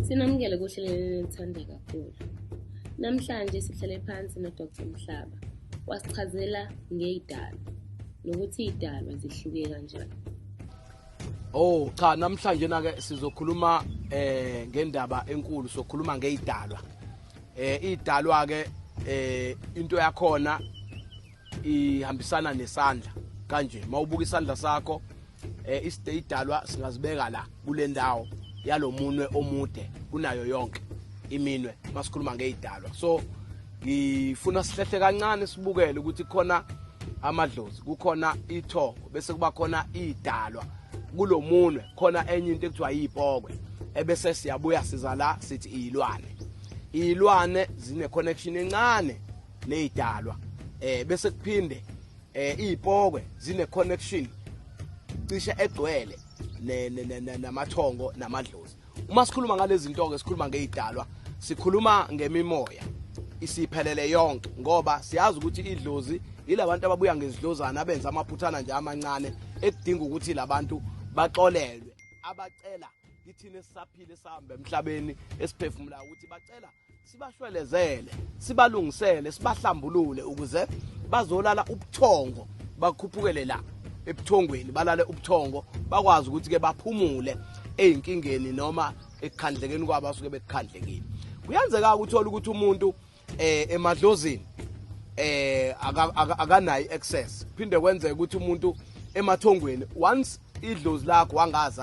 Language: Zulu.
Sinamukele kuhleleni enithanda kakhulu. Namhlanje sihlale phansi noDr Mhlaba wasichazela ngeyidalo nokuthi idalwa zihluke kanjani. Oh cha namhlanje na ke sizokhuluma eh ngendaba enkulu sokhuluma ngeyidalwa. eh idalwa ke eh into yakhona ihambisana nesandla kanje mawubuka isandla sakho eh isite idalwa singazibeka la kule ndawo yalomunwe omude kunayo yonke iminwe masikhuluma ngeyidalwa so ngifuna sihlehle kancane sibukele ukuthi khona amadlozi kukhona itho bese kuba khona idalwa kulomunwe khona enye into ekuthiwa yipokwe ebese siyabuya siza la sithi iyilwane iyilwane zine connection encane nezidalwa eh bese kuphinde eh izipokwe zine connection cishe egcwele namathongo namadlozi uma sikhuluma ngalezi zinto ke sikhuluma ngezidalwa sikhuluma ngemimoya isiphelele yonke ngoba siyazi ukuthi idlozi yilabantu ababuya ngezidlozana abenza amaphuthana nje amancane ekudinga ukuthi labantu baxolelwe abacela kithina esisaphile sihamba emhlabeni esiphefumulayo ukuthi bacela sibashwelezele sibalungisele sibahlambulule ukuze bazolala ubuthongo bakhuphukele la ebuthongweni balale ubuthongo bakwazi ukuthi ke baphumule ezinkingeni noma ekukhandlekeni kwabo asuke bekukhandlekile kuyenzeka ukuthola ukuthi umuntu eh emadlozini eh akanayi access phinde kwenzeka ukuthi umuntu emathongweni once idlozi lakho wangazazi